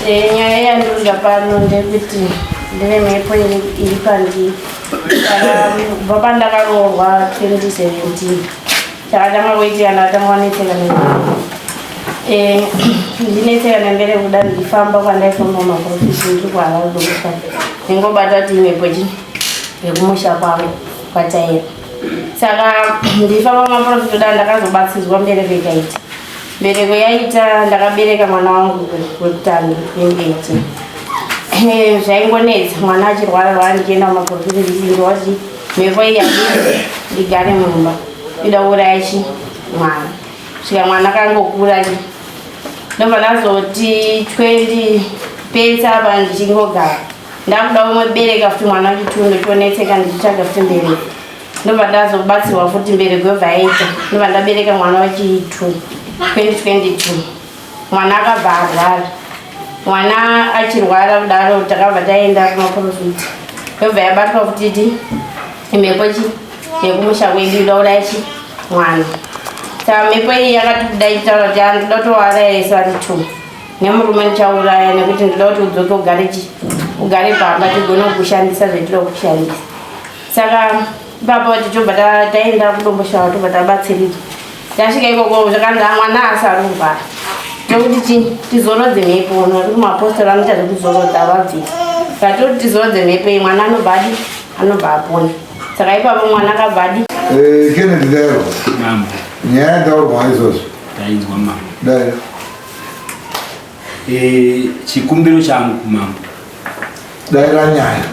Eh, nyaya yandoda pano ndekuti ndine mhepo iri pandii kubva pandakaroorwa 2017 chakatanga kuitika ndakatanga wanetseka eh, ndinetseka nembere kuda ndifamba kwandaifamba maprofisi ndiri kuhava kudokufa ndingobata kuti imhepo chii yekumusha kwangu kwataira saka ndifamba maprofisi kuda ndakazobatsidzwa mbere vekaiti Mbereko yaita ndakabereka mwana wangu wekutanga wembeji eh, zvaingonetsa mwana achirwara rwara ndichienda kumapurofita ndichindo wati mhepo iyi andii ndigare mumba ida kuuraya chi mwana svika mwana akangokura ndobva ndazoti twendi pesa apa ndichingogara ndakuda umwe bereka futi mwana wachitundu chonetseka ndichitsvaga futi mbereko ndobva ndazobatsirwa futi mbere kwebva yaita ndobva ndabereka mwana wachi 2 2022 mwana akabva arwara mwana achirwara kudaro takabva taenda kumaprofiti yobva yabatwa futiti imhepo chi yekumusha kwedu idaura chi mwana saka mhepo iyi yakati kuda ichitaura kuti andida kutouraya yese vari two nemurume ndichauraya nekuti ndida kuti udzoke ugare chi ugare pamba tigone kukushandisa zvetinokushandisa saka baba vacho tobva taenda kudomboshava tobva tabatsirika tasvika ikoko zvakanzi amwana asarurwa tokuti chii tizorodze mhepo nekuti mapostori anoita zvekuzorodza avabvisa vatoti tizorodze mhepo iyi mwana anobva adi anobva apona saka ipapo mwana akabva adi eh, kenedi daro nyaya yataurwa izvozvo dainzwa mama dai Eh, chikumbiro changu kumambo daira nyaya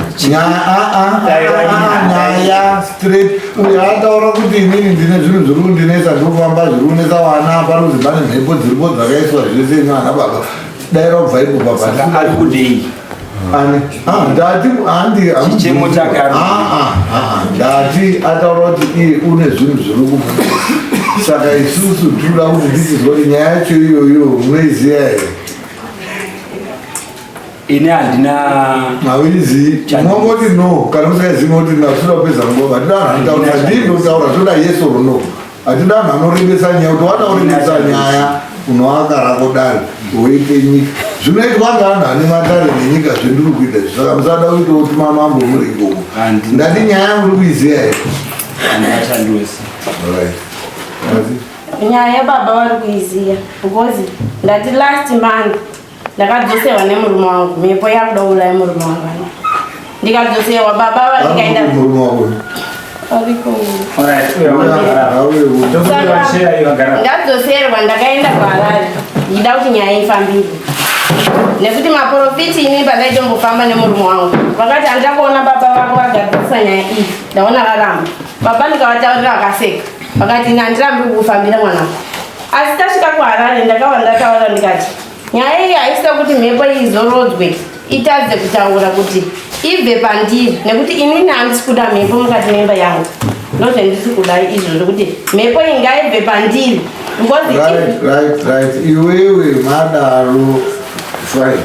nyaya straight uyo ataura kuti inini ndine zvinhu zviri kundinetsa ndiri kufamba zviri kunetsa vana parudzi pane mhepo dziripo dzakaiswa zvese ino ana baba daira kubva ipo baba ari kudei ndati handichichemo chake ndati ataura kuti iye une zvinhu zviri kubuda saka isusu tinoda kuti ndisizwa kuti nyaya yacho iyoyo munoiziva here ini handina mawirizi mongoti no kana musaiziva kuti nasuda kupedza nguva ndinanhandaura ndindotaura toda yes or no Hatidi anhu anorembesa nyaya kuti wana urembesa nyaya unoaka rako dare woite nyika zvinoitwa ngaanhu ane madare nenyika zvendiri kuita izvi saka musada uite kuti mamambo muri ikoko Handi. ndati nyaya yangu uri kuiziva here Handashandi wese. Alright. Asi- nyaya baba vari kuiziva because ndati last month ndakadzosewa nemurume wangu mhepo yakuda ulaya murume wangu ano ndikadzosewa baba vandikaenda ndadzoserwa ndakaenda kuharare ndida kuti nyaya ifambire nekuti maprofiti ini pandaidombofamba nemurume wangu vakati handida kuona baba vako vagadzirisa nyaya iyi ndaona varamba baba ndikavataurira vakaseka vakati ini handirambi kukufambira mwanako asi tasvika kuharare ndakava ndataura ndikati nyaya iyi haisika kuti mhepo iyi izorodzwe itadze kutaura kuti ibve pandiri nekuti inini handisi kuda mhepo mukati memba yangu ndozvendisi kudai izvozvo kuti mhepo iyi ngaibve pandiri ngozi iwewe madaro fine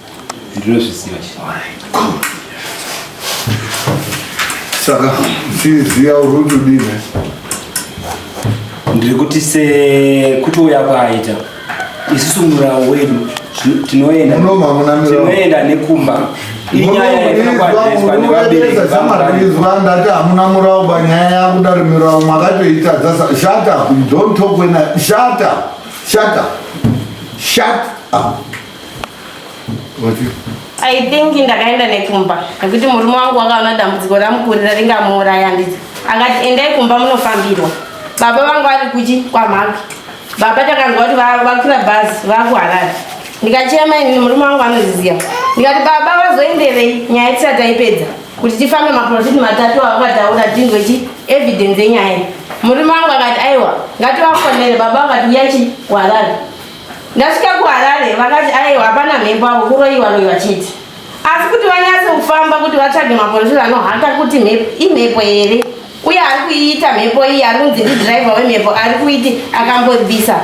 ndinozviziva saka tiziva uri kuti udine ndiri kuti sekutouya kwaaita isusu murawo wedu tinoendanoenda nekumba inyayaaizwa ndati hamuna murawo banyaya yakuda rimirawo makatoitadza shata don't talk when I, shata shata shut up I think ndakaenda nekumba nekuti murume wangu wakaona dambudziko ramukurira ringamuuraya handiti akati endai kumba munofambirwa baba vangu vari kuchi kwamhaka baba takanzwa kuti vakwira bhazi vakuharari ndikachema inini murume wangu anoziziva ndikati baba vazoenderei nyaya tisati taipedza kuti tifambe maprofiti matatu avakataura tinzwe chi evidence yenyaya murume wangu akati aiwa ngativafonere baba vakati uyachi kuharari Ndasvika kuHarare vakati aiwa hapana mhepo avo kuroiwa roiwa chete. Asi kuti vanyatse kufamba kuti vatsvage maporofita anohata kuti imhepo here uye ari kuiita mhepo iyi ari kunzi ndidhiraivha wemhepo ari kuiti akambobvisa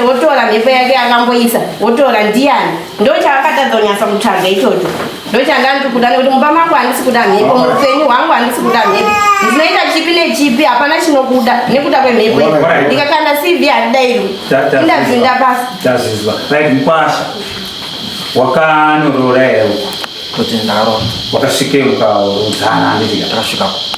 wotora mhepo yake akamboisa wotora ndiyani ndochaakatadza kunyatsa kutsvaga ichocho ndochanga ndiri kuda nekuti mumba mangu handisi kuda mhepo muupenyu hwangu handisi kuda mhepo ndinoita chipi nechipi hapana chinokuda nekuda kwemhepo i ndikakanda cv handidairwi indabvinda pasi tazvizwa right mkwasha wakanorora here uko kuti ndaro wakasvike ukaudzana anditi ndakasvikako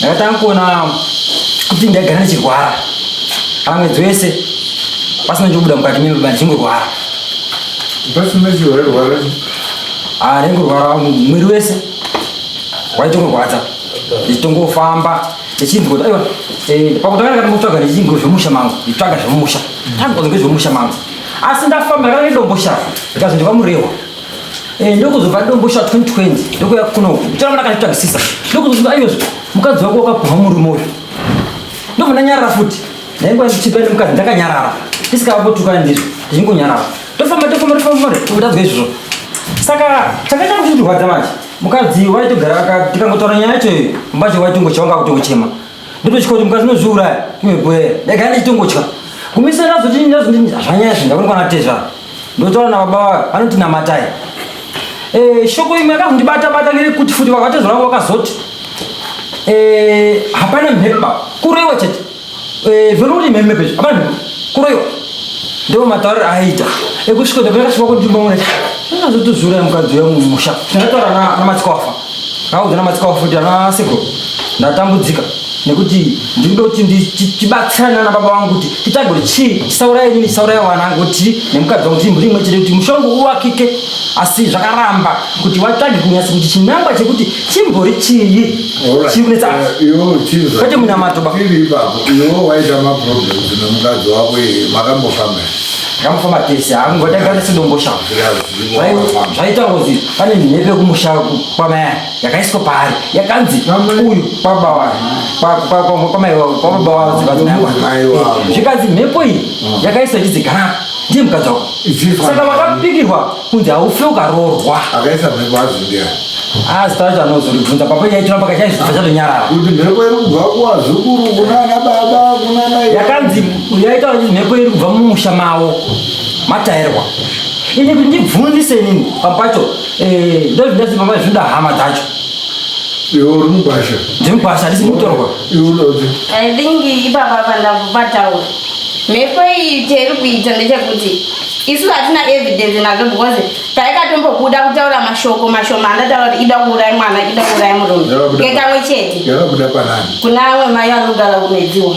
Ndakatanga kuona kuti ndaigara ndichirwara pamwe dzese pasina chobuda mukati mimi baba ndichingorwara pasina chiwairwara ah ndaingorwara mwiri wese waitongorwadza ndichitongofamba ndichinzwa kuti aiwa eh, pakutanga ndakatomutsvaga ndichinzwa zvemusha mangu nditsvaga zvemusha tangonzwa zvemusha mangu asi ndafamba ndakana nedombo shava ndikazondiva murehwa Eh, ndokuzobva ndombosha 2020 ndokuya kunoku chiramba ndakazvitsvagisisa ndokuzozva ayozvo mukadzi wako wakapumha murume uyu ndobva ndanyarara futi ndainguva ndichipa nemukadzi ndakanyarara ndisikavapotukana ndizvo ndichingonyarara tofamba tofamba tofamba totadzwa izvozvo saka chakaita kuchitirwadza manje mukadzi waitogara tikangotaura nyaya yacho mbacho waitongochawanga kutongochema Ndototya kuti mukadzi unozviuraya iwe gwee. Ndagara ndichitongotya. Kumisa ndazoti ndazoti zvanyaya izvi ndakuonekwa na Tezva. Ndotaura na baba vayo vanoti namatai. Eh shoko imwe yakazondibata bata ngerekuti futi baba Tezva vangu vakazoti eh hapana mhepa kuroiwa chete. Eh vero kuti mhepa pezvo hapana mhepa kuroiwa. Ndoo matauriro aita ekusvika ndakasvika kuti ndimboona. Ndazotozviuraya mukadzi wangu mumusha. Ndakataura na na madzikwafa. Akaudzana matsikawo futi ana seko ndatambudzika nekuti ndikuda kuti tibatsirane nana baba vangu kuti titage kuti chii tisauraya inini tisauraya vana angu kuti nemukadzi wangu timburi imwe chete kuti mushongo uvakike asi zvakaramba kuti vatsvage kunyasa kuti chinangwa chekuti chimbori chii chiri kunetsa eh, kwete munamato ba iwo waita maproblems nemukadzi wako makambofamba makambofamba tese hangu ngatagare sidomboshava zvaita ngozi pane mhepo kumusha kwamaya yakaiswa paari yakanzi uyu kwababa wavo zvikanzi mhepo iyi ah. yakaiswa ichizi garapa ndiye mukadzi wako saka vakapikirwa kunzi haufe ukaroorwa akaisa mhepo azvindia asi tacho anozoribvunza papa yaitiramba kachaizvibva chatonyarara kuti mhepo iri kubva kuwazukuru kunana baba kunana yakanzi yaitaura kuti mhepo iri kubva mumusha mavo matairwa Ini kuti ndibvunzise inini papacho eh, ndozvindazi pamai zvinda hama dzacho. Iwe uri mugwasha. Ndiri mugwasha ndisi mutorwa. Iwe unodzi. I think ipapa pandakubatawo. Mhepo iyi tiri kuita ndechekuti isu hatina evidence nazvo because taikatombobuda kutaura mashoko mashoma andataura kuti ida kuurai mwana ida kuurai murume ngekamwe chete yakabuda panani kuna amwe mai anogara kumedziwa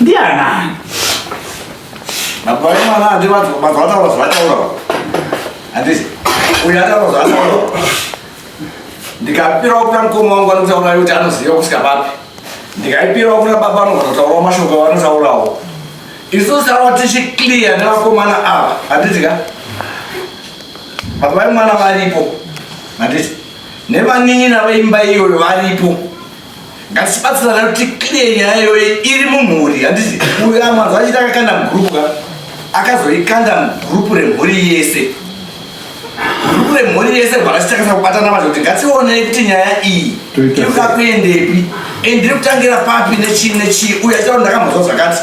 Ndianani? Baba vemwana handi vataura zvavataura. Handisi. Uyu ataura zvavataura. Ndikapirawo kuna mukoma wangu anotaura kuti anoziva kusvika papi. Ndikaipirawo kuna baba anogona kutaurawo mashoko avanotaurawo. Isu sava tichiclear nevakomana ava. Handiti ka? Baba vemwana varipo. Handiti. Nevanin'ina veimba iyoyo varipo. ngatibatsirana kuti clear nyaya iyoyi iri mumhuri handiti uyo amwanzo achiti akakanda mugrupu ka akazoikanda mugrupu remhuri yese grupu remhuri yese rwakasitakasa kubatana vacho kuti ngationei kuti nyaya iyi inoda kuendepi and ndiri kutangira papi nechii nechii uyo achitaura ndakamhozwa zvakati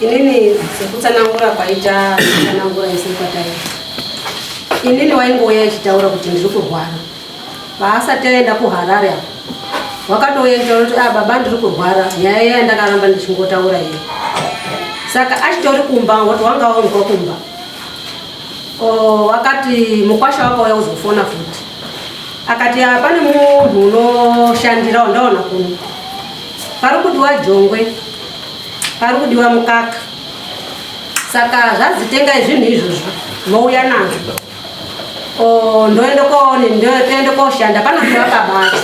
inini sekutsanangura kwaita kutsanangura ese kwatai inini waingouya achitaura kuti ndiri kurwara paasati aenda kuharare apo wakatouya nditaura kuti ah, baba ndiri kurwara nyaya yaya ndakaramba ndichingotaura iyo saka achitori kumba wati wanga waunzwa kumba wakati mukwasha wakauya kuzofona futi akati ah, pane munhu unoshandira wandaona kuno pari kuti wajongwe pari kudiwa mukaka saka zvanzi tengai zvinhu izvozvo mouya nazvo ndoende koone ndoende koshanda panopiwa kabati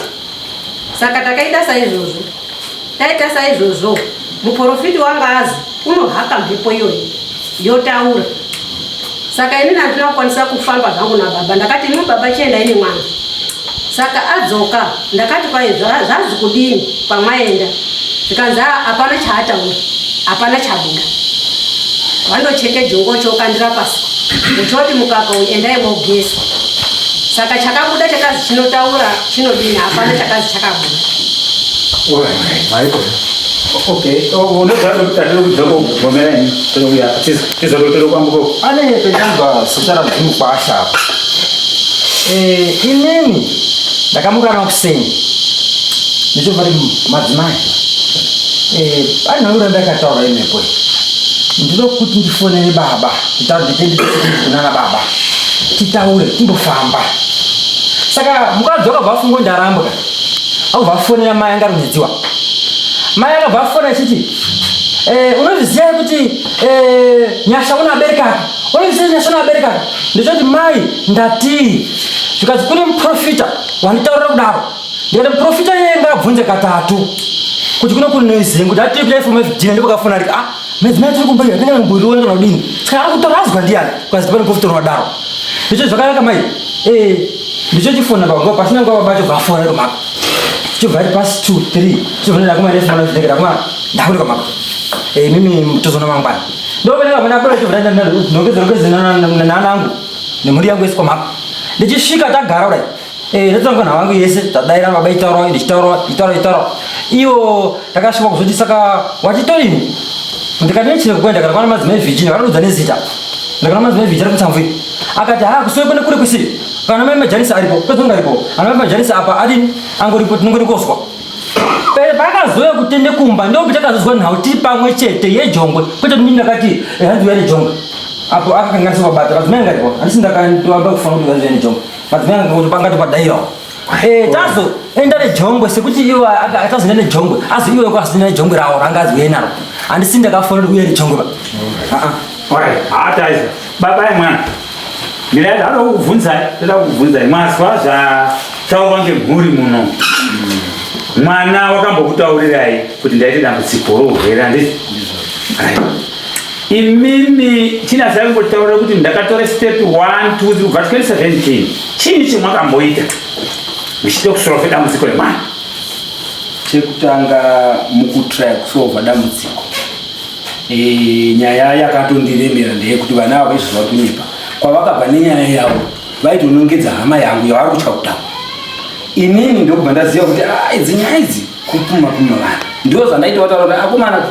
saka takaita saizvozvo taita saizvozvo muporofiti wangazi unohaka mhepo iyoyi Yotaura. Saka ini nandina kukwanisa kufamba zvangu na baba. Ndakati imi baba chienda ini mwana. Saka adzoka ndakati kwaye zvazi kudini kwamaenda. Zvikanzi ah, hapana chaataura. Hapana chabuda. Vandocheke jongo chokandira pasi. Uchoti mukaka uyu endai mogezwa. Saka chakabuda chakazi chinotaura chinodini hapana chakazi chakabuda. All right. All right. Okay, oh, unogara kuti tatiri kuda kugomera ini tokuya tizorotero kwangu ko. Ane penyamba sotara dzimwe kwasha apa. Eh, inini ndakamukana kuseni. Ndichobva madzimai. Eh, pane ura ndakataura imepo. Ndinoda kuti ndifonere baba, titaure nditende kunana baba. Titaure timbofamba. Saka mukadzi wakabva afungo ndarambwa. Au vafonera mai angarudziwa. Mai akabva afona achiti eh, unozviziva here kuti eh, nyasha unabereka apa unozviziva kuti nyasha unabereka apa ndichoti mai ndatii zvikanzi kune muprofita wanditaurira kudaro ndikati muprofita iyeye ngaabvunze katatu kuti kuno kune noise kuti atii kudai foma fdina ndipo kafona arika ah madzimai tiri kumba iyo atinge mumbuirione kana kudini saka ari kutoradzwa ndiyani ukazi tipane muprofita unodaro ndichoti zvakanaka mai eh, ndicho chifona baba pasina nguva baba chobvafona iro mako chobva ri pasi two three chizonera kuma refu mana zvidekera kuma ndakunika mako eh mimi tozona mangwana ndovena kamana apera chobva ndanda ndongedzera kwezi nana angu nemhuri yangu yese kwa mako ndichisvika tagara kudai eh ndotanga na wangu yese tadaira baba itoro nditoro itoro itoro iyo takasvika kuzoti saka wachitoini ndikati nechine kukwenda kana kwana madzimai virginia vakanudza nezita ndakana madzimai virginia kutsamvira akati haa kusiwepo nekuri kusi kana mai majanisa aripo pezonga aripo ana mai majanisa apa adini angoripo tinongorikozwa pakazouya kutende kumba ndokuti akazozwa nhau tiri pamwe chete yejongwe kwete kuti ndakati eh, hanzi uya nejongwe apo akakanganisa kubata vadzimai ngaripo handisi ndakatoamba kufanira kuti hanzi uya nejongwe vadzimai ngangoti pangati padairawo Eh, tazo enda nejongwe sekuti iwe atazoenda nejongwe azi iwe kwazoenda nejongwe rawo ranga aziuye naro handisi ndakafonera uye nejongwe ba haataiza baba ye mwana ndira yadada kukubvunzai toda kukubvunzai mazwa zvataurwa ngemhuri muno mwana wakambokutaurirai kuti ndaite dambudziko rourwere handizvo imimi tina zvaingotaura kuti ndakatora step 1 2 kubva 2017 chii chimwakamboita muchida kusolve dambudziko remwana chekutanga mukutraya kusolva dambudziko e, nyaya yakatondiremera ndeyekuti vana avo izvo zvauri kunyepa kwavakabva nenyaya yavo vaitonongedza hama yangu yavari kutya kutaura inini ndokubva ndaziva kuti ah, idzi nyaya idzi kupuma puma vanhu ndo zvandaita vataura kuti akomana ah,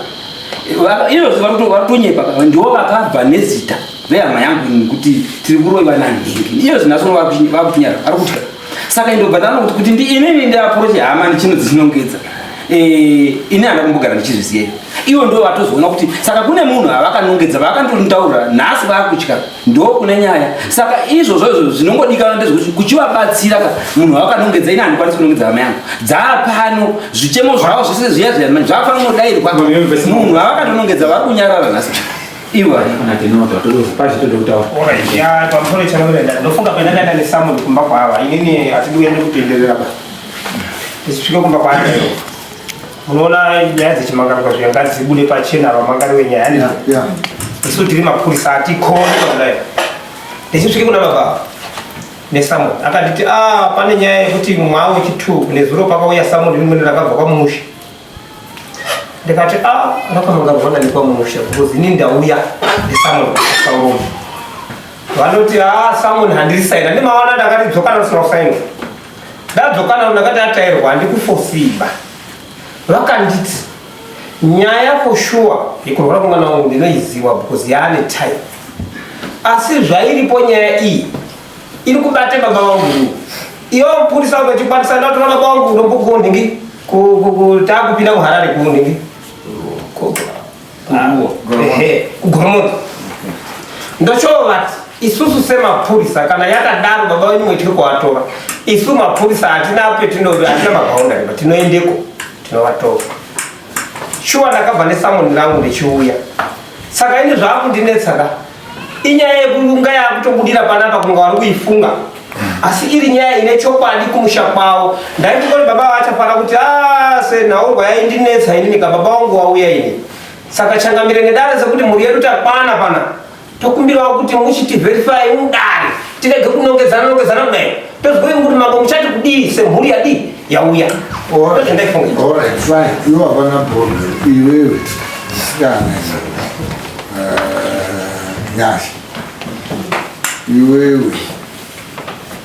Iyozvi vakutonyepa kaka ndiwo vakabva nezita vehama yangu ini kuti tiri kuroiva nanhingi. Iyozvi nasoro vakuchinyara ari kutya. Saka indobva ndano kuti kuti ndi inini ndiapuroche hama ndichino dzisinongedza. Eh, ini handa kumbogara ndichizviziva. Ivo ndo vatozoona kuti saka kune munhu avakanongedza vakandondaura nhasi vakutya. ndokune nyaya saka izvozvo izvo zvinongodikana ndezvekuti kuchivabatsira ka munhu wakanongedza ini handikwanisi kunongedza hama yangu dzaapano zvichemo zvavo zvese zviya zviya zvaafanira kungodairwa munhu vavakatonongedza vari kunyarara nhasi iwe pamusoro chanoenda ndofunga kuenda ndaenda nesamoni kumba kwaava inini hatidi uende kutenderera pa tisvike kumba kwaaioo munoona nyaya dzechimangarirwa zviya ngadzibude pachena vamangari wenyaya handi isu tiri mapurisa atikoni kudai ndichisvike kuna baba nesamon akanditi a ah, pane nyaya yekuti mwawo wechitu nezuro pakauya samon rimweni rakabva kwamusha ndikati a ah, rakamangarirwana nekwamusha because ini ndauya nesamon asauroma vanoti a ah, samon handirisaina ndimawana ndakati dzokanasira kusaina Ndadzokana ndakati atairwa handikufosiba. Vakanditi nyaya for sure yekurwara kwemwana wangu ndinoiziwa because yaane time. Asi zvairipo nyaya iyi iri kubate baba vangu ini. Iwo mupurisa unotikwanisa ndatora baba vangu ndombokundi ngi ku- ku- ku- taakupinda kuHarare kundi ngi. kugoromoto ndochoovati isusu semapurisa kana yakadaro baba wenyu mwetiri kuvatora isu mapurisa hatina petino hatina mabhaundari patinoendeko tinovatora shuwa ndakabva nesamoni rangu ndichiuya saka ini zvaakundinetsaka Inyaya yekunga yakutobudira panapa kunga wari kuifunga asi iri nyaya ine chokwadi kumusha kwavo ndaiti koti baba vachafana kuti ah, senhaurwa yaindinetsa inini ka baba wangu wauya ini saka changamire nedare sekuti mhuri yedu takwana pana tokumbirawo kuti muchitiverify mudare tirege kunongedzana nongedzana kudai tozivei kuti mambo muchati kudii semhuri yadii yauya iwavana bhoro iwewe sikana nyasha iwewe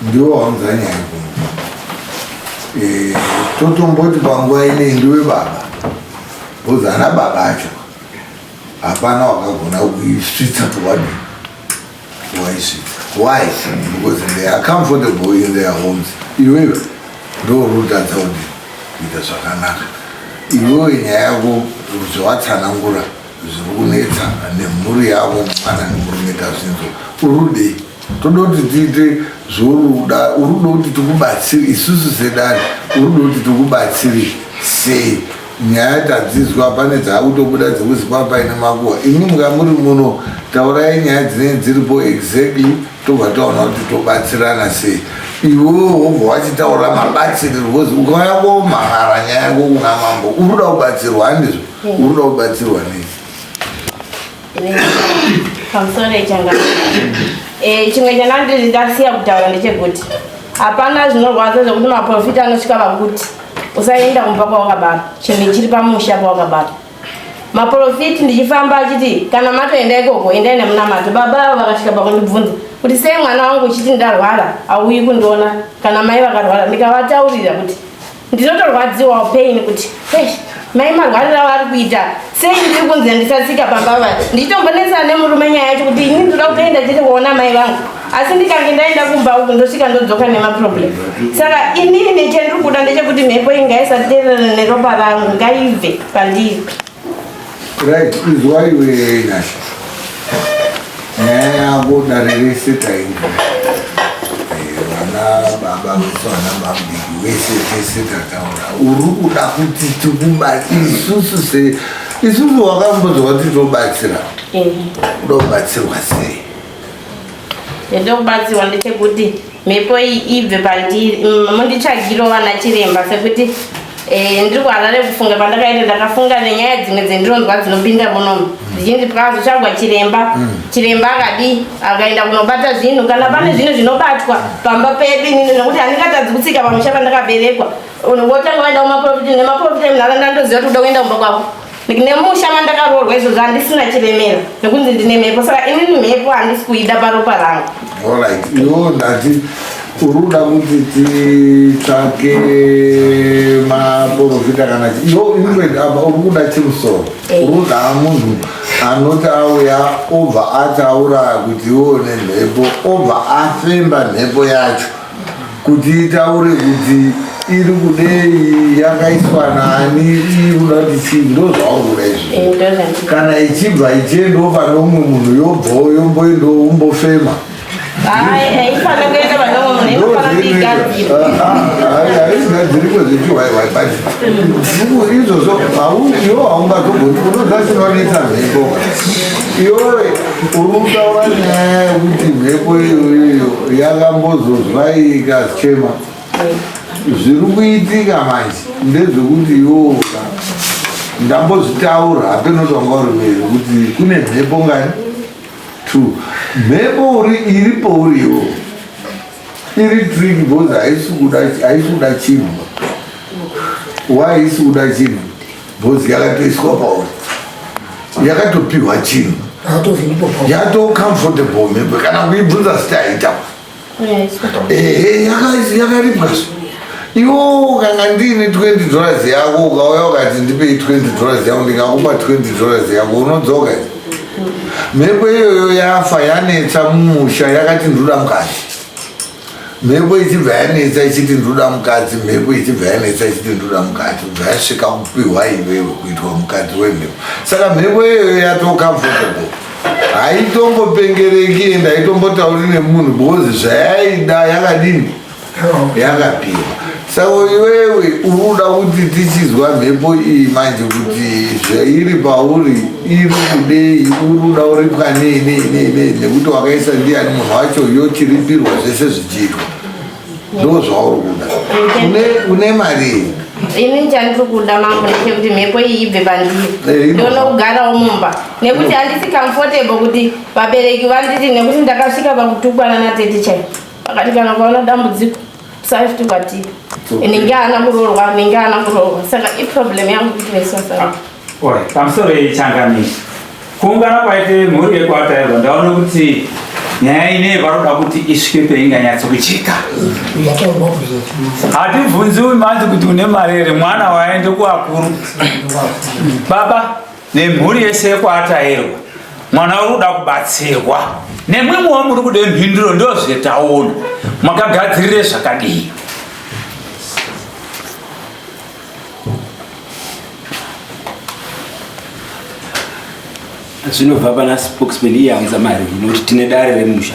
ndiwo waunza nyaya eh, totomboti panguva inei ndiwe baba bhozi ana baba acho hapana wakagona kuisvitsa towadi Why she? Why? Because they are comfortable in their homes. Iwewe ndo rutadza kuti kuita zvakanaka. Iwewe nyaya yako zvawatsanangura zviri kunetsa nemhuri yavo mwana nemurume tazvinzwa. Urudei? Toda kuti tiite zvoruda, urudo kuti tikubatsiri isusu sedare, urudo kuti tikubatsiri sei? Nyaya tadzizwa pane dzakutobuda dzekuzi kwaa paine makuhwa. Imi mukamuri muno taurai nyaya dzinenge dziripo exactly tobva taona kuti tobatsirana sei. Iwewe wobva wachitaura mabatsirirwo coz ukauya komhan'ara nyaya yako kuna mambo urikuda kubatsirwa handizvo? Urikuda kubatsirwa nei? pamusoro changa eh, chimwe chandandiri ndasiya kutaura ndechekuti hapana zvinorwadza zvekuti maprofita anosvika vakuti usaenda kumba kwawakabara chinhu chiri pamusha pawakabara maprofiti ndichifamba achiti kana matoenda ikoko endai nemunamato baba avo vakasvika pakundibvunza kuti sei mwana wangu uchiti ndarwara hauyi kundiona kana mai vakarwara ndikavataurira kuti ndinotorwadziwawo pain kuti mai marwarira vari kuita sei ndiri kunzi handisatsika pamba va ndichitombonetsana nemurume nyaya yacho kuti ini ndoda kutoenda chete kuona mai vangu asi ndikange ndaenda kumba uku ndosvika ndodzoka nemaproblem saka inini chandiri kuda ndechekuti mhepo ingaisatevera neropa rangu ngaive pandiri Right, izwa iwe Nyasha. Nyaya yako dare rese tainzwa. Eh, vana baba vesu vana mabiki vese tese tataura. Uri kuda kuti tikubatsira isusu se isusu wakambozwa kuti tobatsira. Kuda kubatsirwa sei? ndokubatsirwa ndechekuti mhepo iyi ibve pandiri mm, munditsvagiro vana chiremba sekuti eh, ndiri kuharare kufunga pandakaita ndakafunga nenyaya dzimwe dzendinonzwa dzinopinda munomu dzichinzi pakazotsvagwa chiremba mm. chiremba akadii akaenda kunobata zvinhu kana pane zvinhu zvinobatwa pamba pedu inini nekuti handingatadzi kutsika pamusha pandakaberekwa wotanga vaenda kumaprofita nemaprofita munharaunda ndoziva kuti uda kuenda kumba kwako nemusha mandakaroorwa izvozvo handisina chiremera nekunzi ndine mhepo saka inini mhepo handisi kuida paropa rangu uruda kuti titsvake maporofita kana yo ingwed apa uri kuda chimusoro eh. uruda munhu anoti auya obva ataura kuti iwo nemhepo obva afemba mhepo yacho kuti itaure kuti iri kudei yakaiswa nani iuda kuti chii ndozvaurura izvi eh, kana ichibva ichiendawo pane umwe munhu yobvawo yomboendawo umbofema hazvigadziriko zvechiwaiwai but izvozvo iwo haungazogoni unoda chinonetsa mhepo iyoe Urikutaura nyaya yekuti mhepo iyoyo yakambozozwa ikachema zviri kuitika manje ndezvekuti yoka ndambozvitaura hapeno kuti wanga uri mberi kuti kune mhepo ngani two mhepo uri iri pouriwo iri trick because haisi kuda chinhu why isi kuda chinhu Bhozi yakatoiswa pauri yakatopihwa chinhu yato comfortable mhepo kana kuibvunza zita yaita ehe yakaripwa so iwo kanga ndiine 20 dollars yako ukauya ukati ndipei 20 dollars yako ndingakupa 20 dollars yako unodzoka mhepo iyoyo yafa yanetsa mumusha yakati ndoda mukati mhepo ichibva yanetsa ichiti ndoda mukadzi mhepo ichibva yanetsa ichiti ndoda mukadzi ubva yasvika kupihwa iwewe kuitwa mukadzi wemhepo saka mhepo iyoyo yatocomfortable haitombopengereki and haitombotauri nemunhu because zvayaida yakadini yakapiwa Saka iwewe uri kuda kuti tichinzwa mhepo iyi manje kuti zvairi pauri iri kudei uri kuda uripwa nei nei nei nei nekuti wakaisa ndiani munhu wacho yochiripirwa zvese zvichiitwa ndo zvauri kuda Une- une mari iyi ini chandiri kuda mambo ndechekuti mhepo iyi ibve Eh, pandiri ino- ndione kugarawo mumba nekuti handisi comfortable kuti vabereki vanditi nekuti ndakasvika pakutukwana natete chai vakati kana ukaona dambudziko Saifti kwati ninge ana muroorwa ninge ana muroorwa saka iproblem yangu kuti vaisasara. Oi, pamusoro yechangani kuungana kwaite mhuri yekwatairwa ndaona kuti nyaya ine varoda kuti isvike peinganyatso kuchika. Hatibvunziwi manje kuti une mari here mwana waende kuakuru baba nemhuri yese yekwaatairwa mwana uri kuda kubatsirwa nemwimwewo muri kude mhinduro ndozvetaona makagadzirire zvakadii zvinobva pana spokesman iye aunza mari inokuti tine dare remusha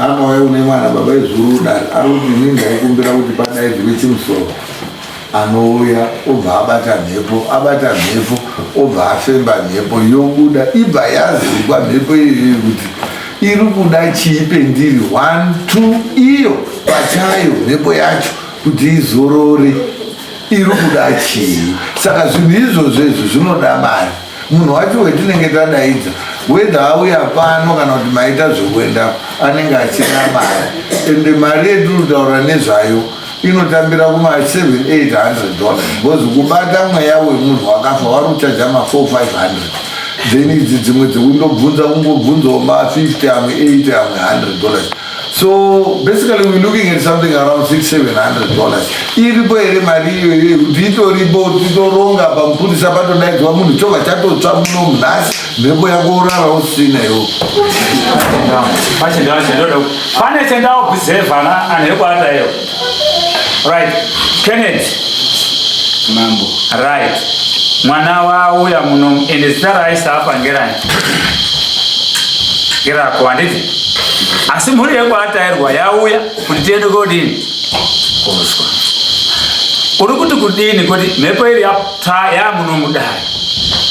Amauya une mwana baba izuru dare ari kuti ini ndaikumbira kuti padaidzwe chimusoro anouya obva abata mhepo abata mhepo obva afemba mhepo yobuda ibva yazikwa mhepo iyoyo kuti iri kuda chii pendiri one two iyo pachayo mhepo yacho kuti izorore iri kuda chii saka zvinhu izvozvo izvo zvinoda mari Munhu wacho wetinenge tadaidza whether auya pano kana kuti maita zvekuenda anenge achina mari ende mari yetiri kutaura nezvayo inotambira kuma 7800 dollars because kubata mweya wemunhu wakafa wari kuchaja ma 4 500 then idzi dzimwe dzekundobvunza kungobvunzawo ma 50 amwe 8 amwe 100 dollars So basically we're looking at something around 6 700 dollars. Iripo here mari iyoyo kuti itoripo titoronga pamupurisa patodaidzwa munhu chova chatotsva muno munhasi mhepo yako urara usina iwo. Pane chendawo buzevana anhu ekwata iyo. Right. Kenneth. Mambo. Right. Mwana wauya muno ende zita raisa apa ngerani? Ngerako handiti? Asi mhuri yekwatairwa yauya kuti tiende kodini? Kozwa. Uri kuti kudini kuti mhepo iri yapo? Taya munomudai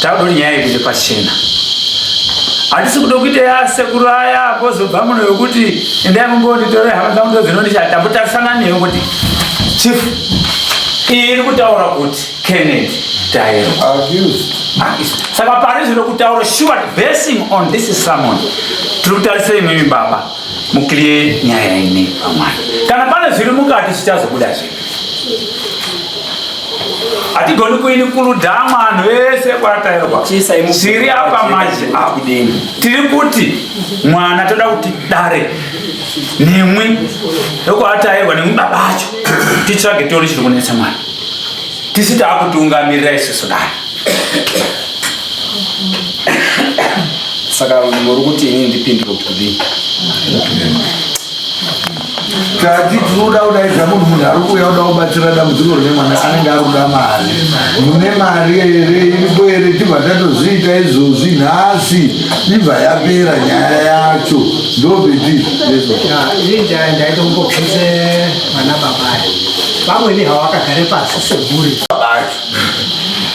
takuda kuti nyaya ikuite pachena hatisi kuda kuita yasekuru aya kozobva muno yokuti endai mumbonditore hama dzangu ndozvinondishaya tambotarisana neyo kuti chief iyi iri kutaura kuti kenneth taero saka pari zvino kutaura sure basing on this sermon tiri kutarisira imwimi baba Mukliye nyaya ine pamwana. Kana pane zviri mukati zvichazobuda zve. Hatigoni kuini kuludama anhu vese kwatairwa. Siri apa maji apo. Tiri kuti mwana toda kuti dare nemwi ndokwatairwa nemwi baba acho titsvage tori chiri kunetsa mwana. Tisi takutungamirira isusu dare. saka muri kuti ini ndipindire kuti kudii kati tinoda kudaidza munhu munhu ari kuuya kuda kubatsira dambudziko rine mwana anenge ari kuda mari mune mari here iripo here tibva tatozviita izvozvi nhasi ibva yapera nyaya yacho ndobeti ndaitombobvise mwana babayo vamweni hawakagare pasi seguri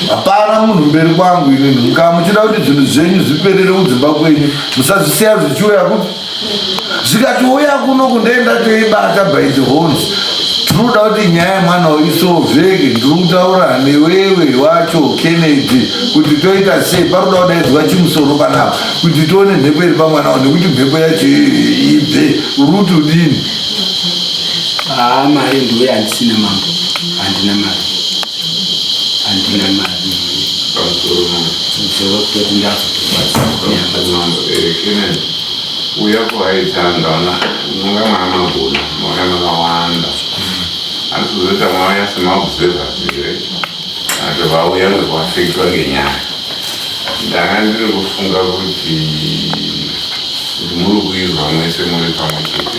hapana munhu mberi kwangu inini kaa muchida kuti zvinhu zvenyu zviperere kudzimba kwenyu musazvisiya zvichiuya kuti zvikatiuya kuno kundoenda toibata by the hones tinoda kuti nyaya yemwana isovheke ndiri kutaura newewe wacho kennedy kuti toita sei paroda kudaidzwa chimusoro panapa kuti tione mhepo iri pamwana wao nekuti mhepo yacho ibve uri kuti udini haa mari ndiwe handisina mambo handina mari handina mari zoro toti ndazotobatsauya kuaitanga ona unonga mwana magona mwana makawanda asi kuzoita mauya semaobservers here ato vauya ndokuafektwa ngenyaya ndanga ndiri kufunga kuti muri kuizwa mwese muri pamwe chete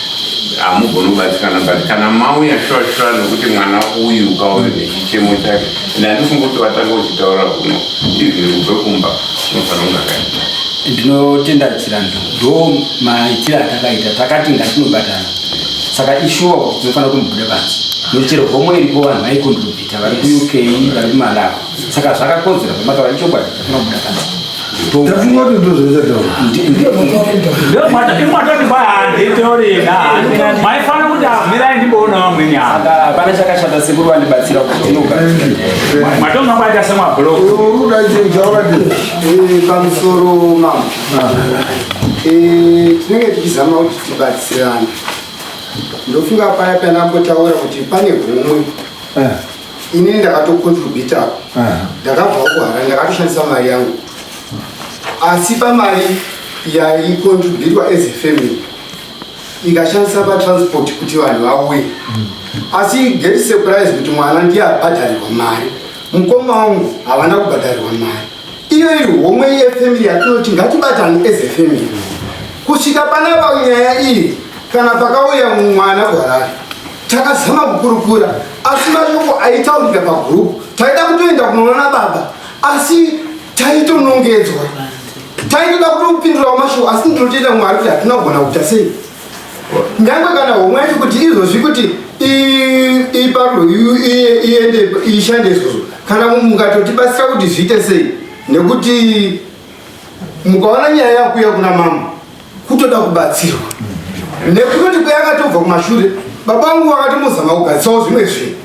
hamugoni kubatsirana but kana mauya shuwa shuwa nokuti mwana uyu ukaona nechichemo chake and handifunga kuti vatanga uchitaura kuno izviri kubve kumba unofanira kunge akaita ndinotenda chirando ndo maitire atakaita takati ngatinobatana saka ishuwa kuti tinofanira kumubuda pansi nokuti chero homwe iripo vanhu vaikondrobhita vari kuuk vari kumalawi saka zvakakodzera pamataura ichokwadi maifana kuti amirai ndimboona vamweni apana chakashata sekuru vandibatsira kutinogamatonga kwaita semablokamusoro mama tinenge tichizama kuti tibatsirane ndofunga paya panambotaura kuti pane humwe inini ndakatocontributawo uh -huh. ndakabvawo kuharare ndakatoshandisa mari yangu asi pamari yaicontributwa as a family ikashandisa patransport kuti vanhu vauye asi get surprise kuti mwana ndiye abhadharirwa mari mukoma wangu havana kubhadharirwa mari iyo iri homwe yefamily yatinoti ngatibatani as a family kusvika panapa nyaya iyi kana pakauya mwana kuharari Takazama kukurukura asi mashoko aitaurika pagroup taida kutoenda kunoona baba asi taitonongedzwa taitoda kutopindurawo mashoko asi ndinotoita mwari kuti hatina kugona kuita sei nyange kana homwe yacho kuti izvozvi kuti iparwo iende ishande izvozvo kana mukatotibatsira kuti zviite sei nekuti mukaona nyaya yakuya kuna mama kutoda kubatsirwa nekutoti kweyakatobva kumashure baba vangu vakatomuzama kugadzisawo zvimwe zvinhu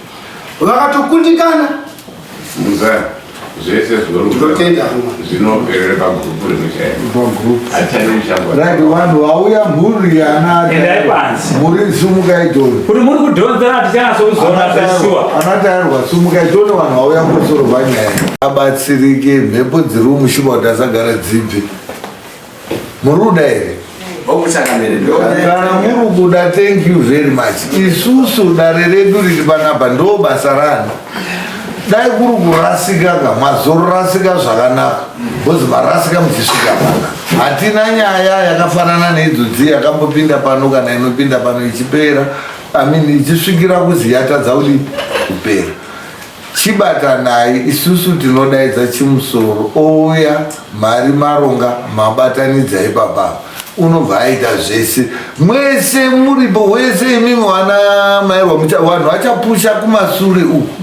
vakatokundikana zvese zvinotenda zvinoperera pagurupu rimwe chairo hatitani muchango vanhu vauya mhuri yanaendai panze muri sumuka idhoni kuti muri kudhonzera tichanasokuzoona zveshuwa anatairwa sumuka idhoni vanhu vauya kusoro vanyaya abatsirike mhepo dziri mushuba kuti asagara dzibve muri kuda here kana muri kuda thank you very much isusu dare redu riri panapa ndo basa ranhu dai kuri kurasika ka mazorasika zvakanaka bcause marasika muchisvika pana hatina nyaya yakafanana neidzo dziye yakambopinda pano kana inopinda pano ichipera imean ichisvikira kuzi yatadza kudi kupera chibatanai isusu tinodaidza chimusoro ouya Mari maronga mabatanidza ipapa unobva aita zvese mwese muripo wese imimi wana mairwa vanhu vachapusha kumasure uku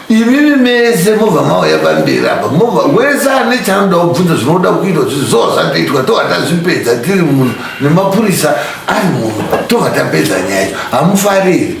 imimi mese mobva mauya pamberi apa mobva wese ane chanoda kubvunza zvinoda kuitwa zvizoa zvatoitwa tova tazvipedza tiri munhu nemapurisa ari munhu tova tapedza nyaya yacho hamufariri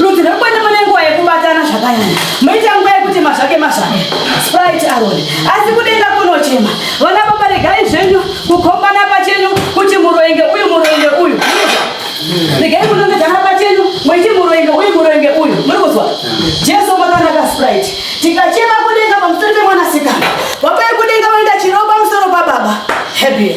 Rudzi rwekwenda mune nguva yekubatana zvakanyanya moita nguva yekuti mazvake mazvake sprite aroni asi kudenga kunochema vana baba regai zvenyu kukombana pachenyu kuti muroenge uyu muroenge uyu regai kunongedzana pachenyu moiti muroenge uyu muroenge uyu muri kuzwa jesu makanaka sprite tikachema kudenga pamusoro pemwanasikana vapai kudenga vanoita chiropa musoro pababa hebia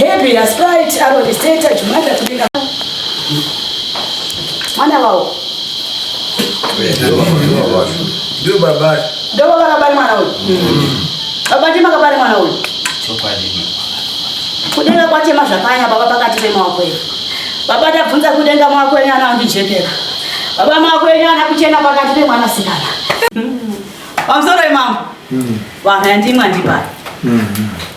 Happy na sprite anoriseta chimwana chibinga. Mwana wao. Ndio baba. Ndio baba kabari mwana huyu. Baba ndima kabari mwana huyu. Chokwadi. Kudenga kwache mazvakanya baba pakati pemaoko edu. Baba tabvunza kudenga mwako enyu ana andijekera. Baba mwako enyu ana kuchena pakati pemwana sikana. Pamusoro imambo. Vanhu yandimwa ndibari. Mm-hmm.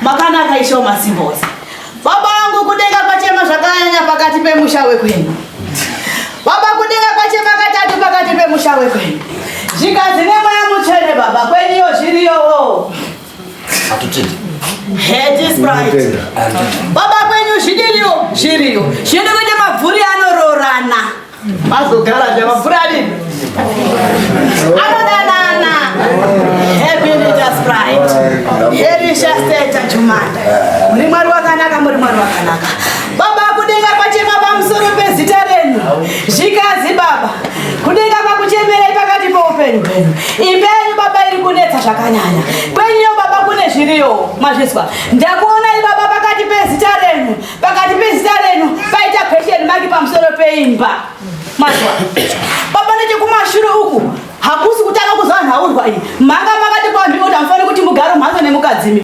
Makanaka isho masimbozi. Baba angu kudenga pachema zvakanyanya pakati pemusha wekwenu. Baba kudenga pachema katatu pakati pemusha wekwenu. Zvikanzi nemweya mutsvene baba kweniyo zviriyowo. Hatutidi. Heti sprite. Baba kwenyu zvidiriyo zviriyo. Zvinoda kuita mabvuri anoroorana. Bazogara java furani. Anodanana. Happy leaders pride. Happy shasteta chumanda. Muri mwari wakanaka muri mwari wakanaka. Baba kudenga pachema pamusoro pezita renyu. Zvikazi baba. Kudenga kwakuchemerai pakati poupenyu hwenyu. Imbenyu baba iri kunetsa zvakanyanya. Kwenyu baba kune zviriyo. Mazvizwa. Ndakuonai baba pakati pezita renyu. Pakati pezita renu paita question mark pamusoro peimba. Mazwa. Baba nechekumashure uku hakusi kutanga kuzwa nhaurwa iyi. Manga makati kwambi kuti hamufani kuti mugaro mhatso nemukadzimi.